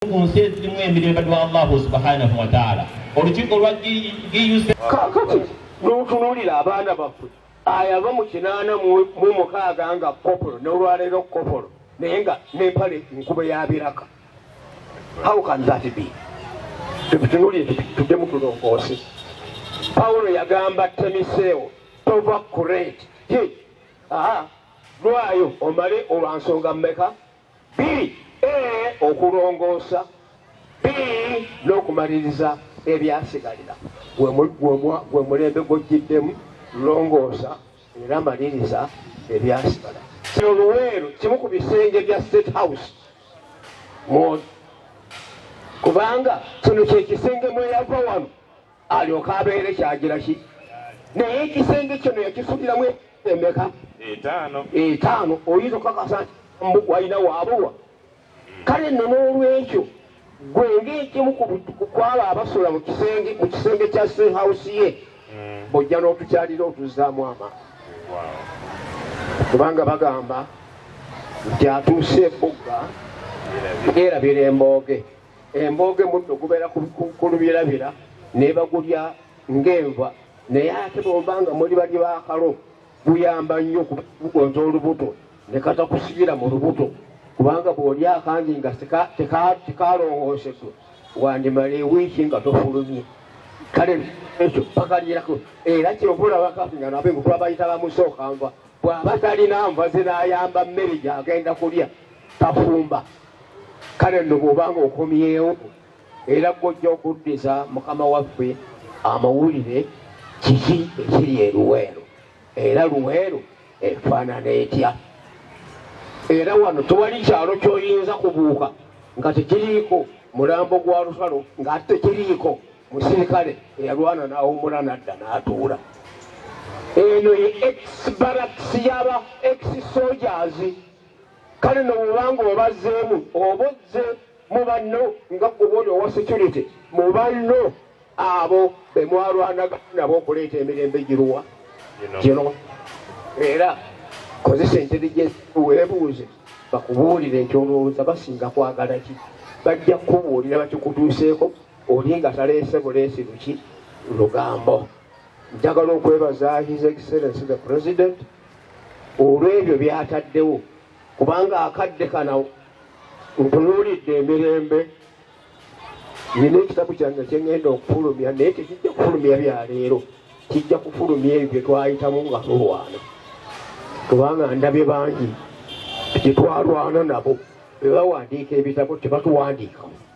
ku nsi ezirimu emirembe lwa allahu subhanahu wataala olukiiko lwa giyuse kakati notunuulira abaana baffe ayava mu kinaana mu mukaaga nga kopolo nolwaleero kopolo naye nga nempale nkuba yabiraka how can that be tutunulire tuddemu tulongoosi pawulo yagamba temiseewo tova kureti lwayo omale olwansonga mumeka Bbiri, A, Okulongoosa B, N'okumaliriza ebyasigalira gwe mulembe gw'ojjiddemu, longoosa era maliriza ebyasigala. Kino Luweero kimu ku bisenge bya State House kubanga kino kye kisenge mweyava wano alyoke abeere kyagira ki naye ekisenge kino yakisukiramu emeka etaano etaano oyinza okukakasa mbu walina waabulwa kale nno n'olwekyo gwe ng'ekimu kwabo abasula mu kisenge mu kisenge kya sehawusi ye hmm. bojja n'otukyalira otuzzaamu ama kubanga bagamba nti atuuse ebugga era birembooge Embooge muddo gubeera ku lubirabira nebagulya ng'enva naye ate bwomba nga muli bali bakalo guyamba nnyo kugonza olubuto ne katakusigira mu lubuto kubanga bw'oli akangi nga tekalongoosedwa wandimala ewiiki nga tofulumye kale ekyo pakalirako era kyobulabakafi nga nabe ngukula bayita bamusooka nva bw'aba talina nva zinayamba mmere gyagenda kulya tafumba kale nno bw'obanga okomyewo era gwojja okuddiza mukama waffe amawulire kiki ekiri eruweero era luweero efaanana etya era wano tewali kyalo kyoyinza kubuuka nga tekiriiko mulambo gwa lusalo ng'ate tekiriiko musirikale eyalwana n'awumula nadda n'atuula eno ye ex baraks yaba ex sojazi kale no bwobanga obazzeemu oba ozze mu banno nga gwoba oli owa security mu banno abo be mwalwanaga nabo okuleeta emirembe giruwa gino era kozesa intelligence weebuuze bakubuulire nti olowooza basinga kwagala ki bajja kukubuulira bakikutuuseeko oli nga taleese buleesi luki lugambo Njagala okwebaza His Excellency the President olw'ebyo byataddewo kubanga akadde kana ntunuulidde emirembe nina ekitabu kyange kyengenda okufulumya naye tekijja kufulumya byaleero kijja kufulumya ebyo byetwayitamu nga tulwana kubanga ndabye bangi gyetwalwana nabo bebawandiika ebitabo tebatuwandiikamu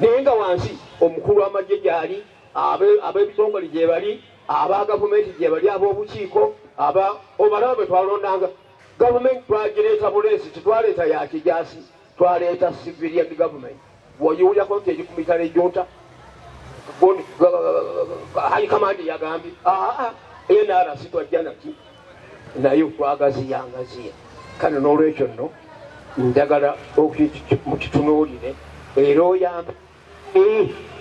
naye nga wansi omukulu w'amagye gyali ab'ebitongole gyebali aba gavumenti gyebali ab'obukiiko aba obalaba bwe twalondanga gavumenti twagireeta buleesi tetwaleeta ya kijaasi twaleeta civilian gavumenti woyiwulyako nti eri ku mitala ejunta high command yagambye aa nrc twajja naki naye okwagaziya ngaziya kale n'olwekyo nno njagala mukitunuulire era oyambe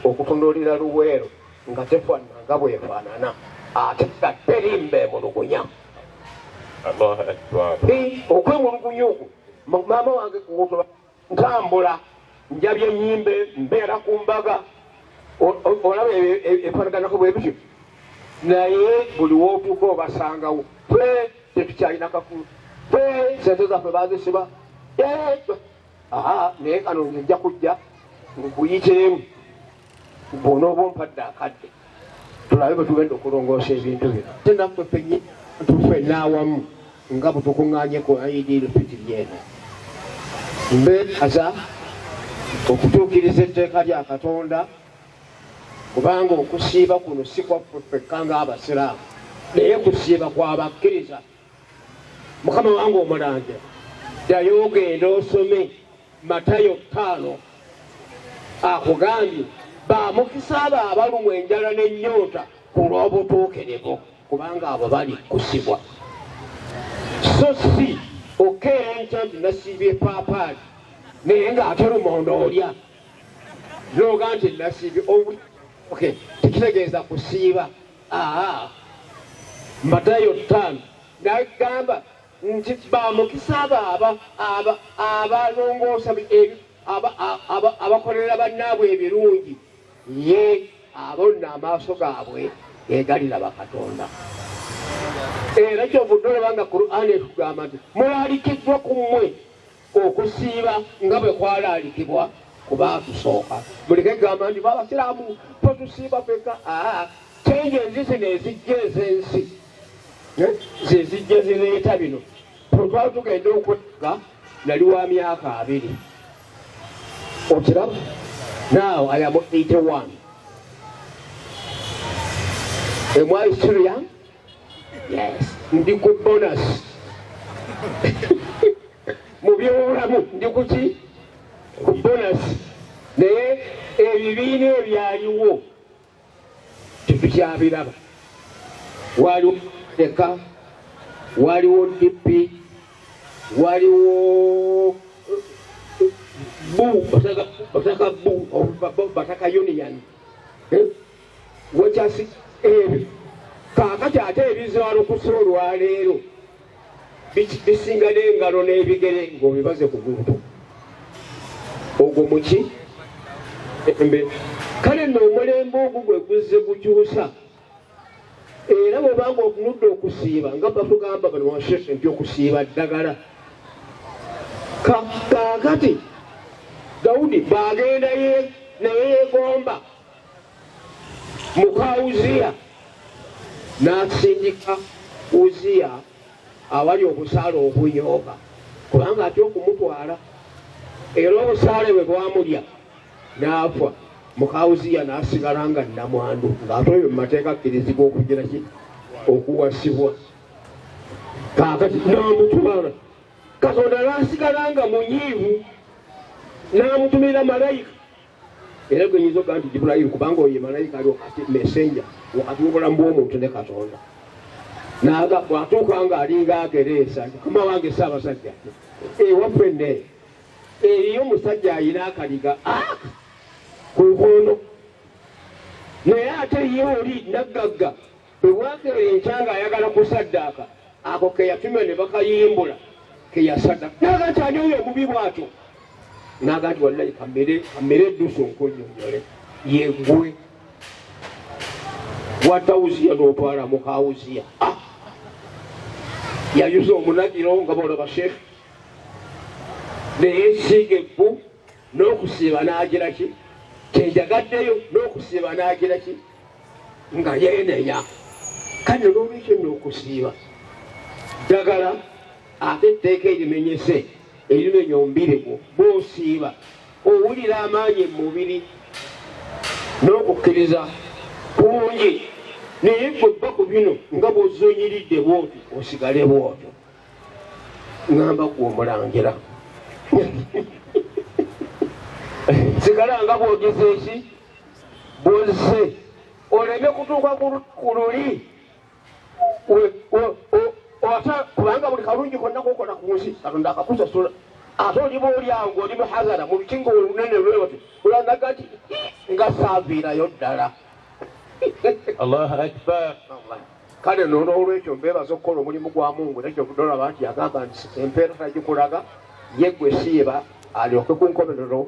okutunuulira luweero nga tefaanana nga bwefaanana ate nga terimba emulugunya okwemulugunya okwo maama wange kuwotola Ntambula, njabye, nnyimbe, mbeera ku mbaga, olaba ebifaanaganako bwe bityo. Naye buli w'otuuka obasangawo. Ffe tetukyalina kakulu, ffe sente zaffe baazisiba. Naye kano nja kujja nkuyiteemu. bwonooba ompadde akadde tulabe bwe tugenda okulongoosa ebintu bino te naffe fenye tufe n'awamu nga bwetukuŋŋanye ku aidiiro fitiri eno mbeekaza okutuukiriza etteeka lya katonda kubanga okusiiba kuno si kwaffe ffekka ng'abasiraamu naye kusiiba kwa bakkiriza mukama wange omulanja ddayo ogenda osome matayo ttaano akugambye bamukisa abo abalumwa enjala n'ennyonta ku lw'obutuukirivu kubanga abo bali kusibwa so si okeera enkya nti nasiibye paapaali naye ng'ate lumonda olya noga nti nasiibye tekitegeeza kusiiba Aa Matayo ttaano n'agamba nti ba mukisa abo aba aba abalongoosa ebi aba aba abakolera bannaabwe ebirungi ye abo nno amaaso gaabwe egaliraba Katonda. Era kyovudde olaba nga Kur'ani etugamba nti mulalikiddwa ku mmwe okusiiba nga bwe kwalaalikibwa ku baatusooka. Muleke kugamba nti Abasiraamu ffe tusiiba fekka. Aa change enzi zino ezijja ez'ensi eh, ze zijja zireeta bino. Ffe twali tugenda okwegga nali wa myaka abiri. Okiraba? Now I am 81. Am I still young? ndi ku bonus mu byobulamu ndi kuki ku bonus naye ebibiina ebyaliwo tetukyabiraba waliwo leka waliwo dp waliwo bu bataka bu bataka union eh? Wekasi ebyo kaakati ate ebizaalukusa olwaleero bisinga n'engalo n'ebigere ng'obibaze ku muntu ogwo muki embe kale nno omulembe ogwo gwe guzze gukyusa era bwebanga otunudde okusiiba nga batugamba bano washeshe nti okusiiba ddagala kaakati dawudi baagendaye naye yegomba muka Uziya n'asindika Uziya awali obusaale obuyooba kubanga atya okumutwala era obusaale bwe bwamulya n'afa muka Uziya n'asigala nga nnamwandu ng'ate oyo mu mateeka akkirizibwa okugira ki okuwasibwa kaakati n'amutwala katonda n'asigala nga munyiivu n'amutumira malayika era gwe nyinza okugaa nti jibulayiru kubanga oyo malayika ali wakati messenger wakati wobulamu bwomuntu ne katonda naga bwatuuka nga alinga agereesa nti kama wange saabasajja ewaffe ne eriyo omusajja ayina akaliga ah! ku nkondo naye ate ye oli naggagga Bwe bwakera enkya ng'ayagala kusaddaaka ako ke yatumya ne bakayimbula ke yasaddaaka. N'aga nti ani oyo omubi bw'atyo? N'aga nti wallahi kamere kamere eddusu nkunnyonnyole yeggwe watawuziya n'otwala mu kawuziya ah! yayuza omunagiro nga boolaba sheekh naye siiga ebbu n'okusiiba n'agira ki kyenjagaddeyo n'okusiiba n'agira ki nga yeneya kale nolwekyo nokusiiba ddagala ate etteeka erimenyese erimenya omubirigwo bwosiiba owulira amaanyi mu mubiri n'okukkiriza kungi naye gwe bba ku bino nga bwozonyiridde bwoti osigale bwotyo ngamba gwe omulangira sigala nga bwogezeki buzze oleme kutuuka ku luli ate kubanga buli kalungi konna kokola ku nsi katonda akakusasula ate oliba oli awo ngaoli muhazara mu lukingo olunene lwewoti olanaga nti nga saaviirayo ddala allahu akbar kale nonolwekyo mbebaza okukola omulimu gwa mungu nekyo kudolaba nti yagamba nti empeera tagikulaga yegwe siiba alyoke kunkomerero